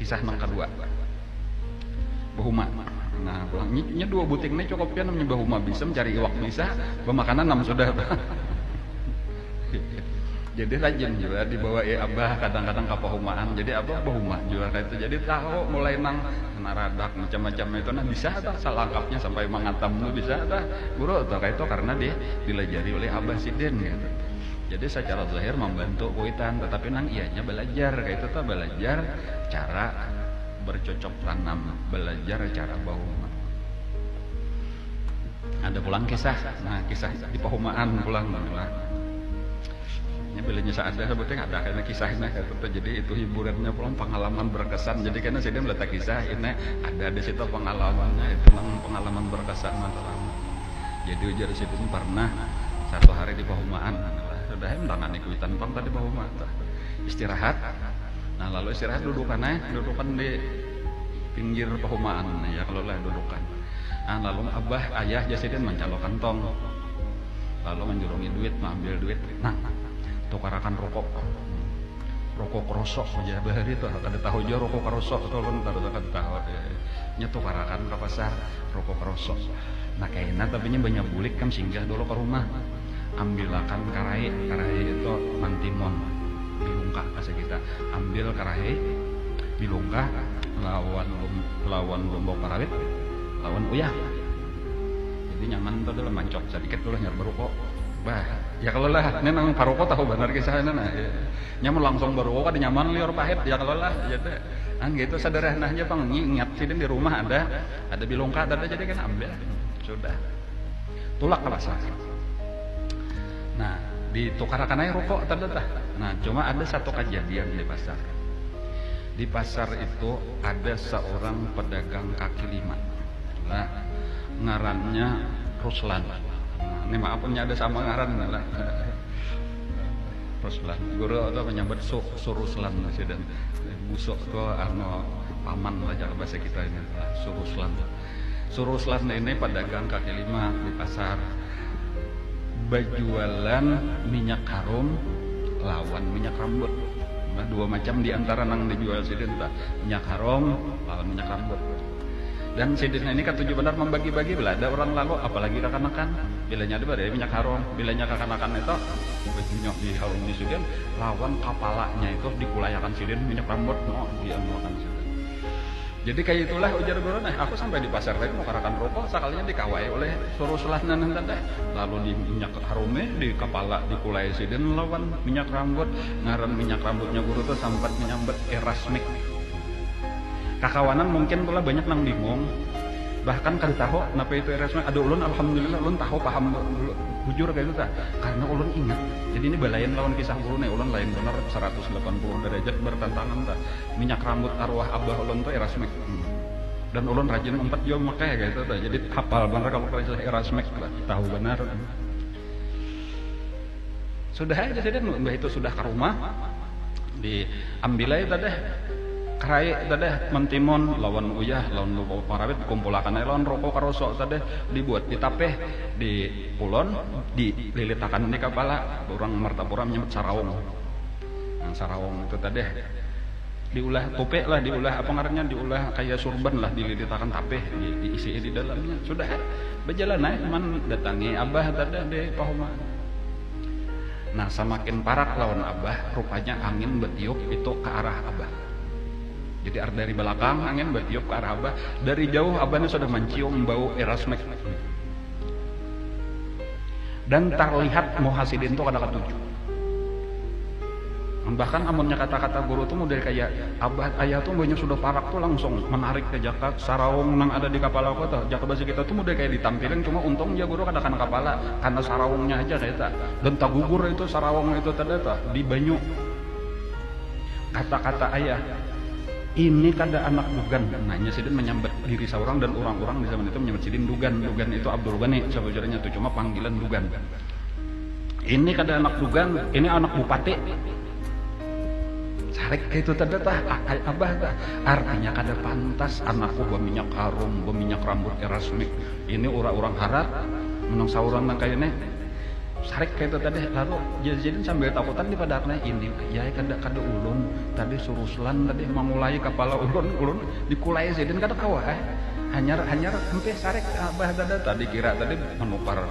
Kisah nang kedua. Bahuma. Nah, nya dua buting ini cukup ya namanya bahuma bisa mencari iwak bisa, bemakanan nam sudah. jadi rajin juga dibawa eh abah kadang-kadang ke pahumaan jadi abah bahuma juga kayak itu jadi tahu mulai nang naradak macam-macam itu nah bisa tak selengkapnya sampai mengatam tuh bisa tak guru atau kayak itu karena dia dilajari oleh abah sidin gitu Jadi secara zahir membantu kuitan, tetapi nang ianya belajar kaitu tah belajar cara bercocok tanam, belajar cara bahuma. Ada pulang kisah, nah kisah di pahumaan pulang lah. Ini bilanya saada sebetulnya ada kena kisahnya kaitu tah. Jadi itu hiburannya pulang pengalaman berkesan. Jadi kena sidin letak kisah ini ada di situ pengalamannya itu nang pengalaman berkesan antara. Jadi ujar si Bung pernah satu hari di pahumaan. Sudah hem tangan ikutan pang tadi pahumaan. Istirahat. Nah lalu istirahat dudukan eh, dudukan di pinggir pahumaan ya kalau lah dudukan. Nah lalu abah ayah jasidin mancalo kantong. Lalu menjurungi duit, mengambil duit. Nah, tukarakan rokok. Rokok rosok aja bahari tuh kada tahu jua rokok rosok tuh kada tahu. Nya tukarakan ke pasar rokok rosok. Nah kaina tapi nya banyak bulik kam singgah dolo ka rumah. Ambilakan karahi, karahi itu mantimon, bilungkah bahasa kita. Ambil karahi, bilungkah lawan lawan lombok parawit, lawan uyah. Jadi nyaman tu adalah mancok sadikit tu lah hanyar baruko. Bah, ya kalo lah. Nya nang karuko tahu banar kisah nya nah. Nya mun langsung baruko kada nyaman liur pahit ya kalo lah. Jadi nang kaya itu sadarahana haja pang. Ingat sidin di rumah ada. ada bilung ka ada jadi kan ambil sudah tulak ke pasar nah ditukarakan aja rokok tadi dah nah cuma ada satu kejadian di pasar di pasar itu ada seorang pedagang kaki lima nah ngarannya Ruslan nah, ini maaf punya ada sama ngaran lah Ruslan. Guru tu manyambat su, su Ruslan sidin. Busuk tu anu paman lah jar bahasa kita ini lah, su Ruslan. Su Ruslan ini padagang kaki lima di pasar. Bajualan minyak harum lawan minyak rambut. Nah, dua macam di antara nang dijual sidin tu, minyak harum lawan minyak rambut. Dan sidin ini katuju banar mambagi-bagi, bila ada urang lalu, apalagi kakanakan. Bilanya tu badai minyak harum, bilanya kakanakan itu, Kulit minyak diharumi sidin lawan kapalanya itu dikulayakan sidin minyak rambut no dianuakan sidin. Jadi kaya itulah ujar guru nah aku sampai di pasar tadi nukarakan ruko sakalinya dikawai oleh surusulah nang tadi lalu di minyak harumi di kapala dikulai sidin lawan minyak rambut ngaran minyak rambutnya guru tu sambat menyambat erasmik. Kakawanan mungkin tu lah banyak nang bingung bahkan kada tahu napa itu erasmik ada ulun alhamdulillah ulun tahu paham dulu. Bujur kaitu tah, karna ulun ingat. Jadi ini balain lawan kisah ulun nih, ulun lain banar saratus delapan puluh darajat bartantangan tah. Minyak rambut arwah abah ulun tu Erasmek. Dan ulun rajin umpat jua memakai kaitu tah. Jadi hapal banar kalu kisah Erasmek tu, tahu banar. Sudah ai jar sidin, imbah itu sudah ka rumah, diambil ai tadeh karai tadeh mentimun lawan uyah lawan ruko parawit dikumpulakan ai lawan ruko karoso tadeh, dibuat di tapih. Di Kulon di lilit akan ni kapala urang Martapura menyebut saraung. Nang saraung itu tadi di ulah tupi lah di ulah apa ngarannya di ulah kaya surban lah di lilit akan tapih di isi di dalamnya sudah ai bajalan ai man datangi abah tadi di pahumaan. Nah samakin parak lawan abah rupanya angin batiup itu ka arah abah. Jadi ar dari balakang angin batiup ka arah abah dari jauh abah ni sudah mancium bau irasmik. Dan tarlihat muha sidin tu kada katuju. Bahkan amunnya kata-kata guru tu mudel kaya abah ayah tu mbahnya sudah parak tu langsung manarik ja jaka saraung nang ada di kapala ko tuh. Jaka basa kita tu mudel kaya ditampiling cuma untung ja guru kada kana kapala, kana saraungnya haja kayata. Dan tagugur itu saraung itu tadi tuh di banyu. Kata-kata ayah. Ini kada anak Dugan, nanya sidin manyambat diri saurang dan urang-urang di zaman itu manyambat sidin Dugan. Dugan itu Abdul Ghani sabujurnya tu, cuma panggilan Dugan. Ini kada anak Dugan, ini anak Bupati. Sarik kaytu tanda tah, akai abah tah. Artinya kada pantas anakku baminyak harum, baminyak rambut erasmik. Ini urang-urang harat, nang saurang nang kaya ni. Sarik kaytu tadi. Lalu, jar sidin sambil takutan di padahaknya, ini. Iya kada kada ulun tadi suruslan tadi mangulai kapala ulun ulun dikulai sidin kada kawa eh. Hanyar hanyar ampih sarik abah kada tadi kira tadi manukar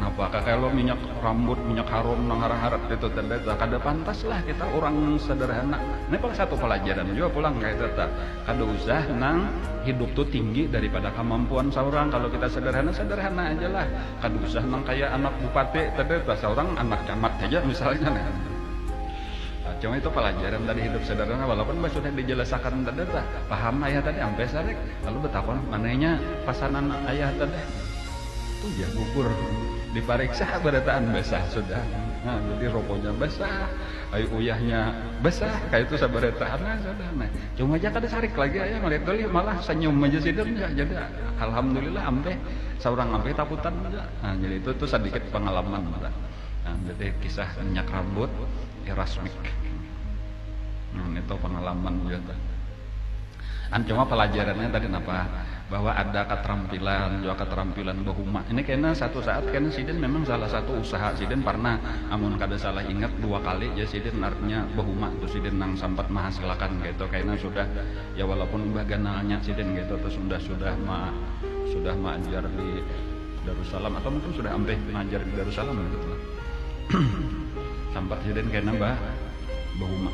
napa kakelo minyak rambut minyak harum nang harat harat itu tadi ta kada pantas lah kita urang nang sederhana ini pang satu palajaran jua pulang kaya itu ta kada usah nang hidup tu tinggi daripada kamampuan saurang kalu kita sederhana sederhana aja lah Kada usah nang kaya anak bupati tadi tuh, asal urang anak camat haja misalnya nah. Cuma itu pelajaran tadi hidup sederhana walaupun bah sudah dijelasakan tadi tuh, paham ayah tadi sampai sarik. Lalu betakun, mananya pasanan ayah tadi? Tuh jar bubur dipariksa barataan basah sudah. Nah, jadi robonya basah, ayu uyahnya basah, kayak itu sabarataan sudah. Nah, cuma aja kada sarik lagi ayah melihat dulu malah senyum aja sidin jadi. Alhamdulillah ampe seorang ampe takutan juga. Nah, jadi itu tuh sedikit pengalaman kita. Nah, jadi kisah minyak rambut Erasmik. Nah, itu pengalaman juga tuh. Kan cuma pelajarannya tadi apa? Bahwa ada keterampilan, juga keterampilan bahuma. Ini kena satu saat kena sidin memang salah satu usaha sidin pernah amun kada salah ingat dua kali ya sidin artinya bahuma tuh sidin nang sempat menghasilkan gitu kena sudah Ya walaupun imbah ganalnya sidin ketu tu sudah sudah ma sudah maajar di Darussalam atau mungkin sudah ampih maajar di Darussalam ketu tu. Sampat sidin kena ba bahuma.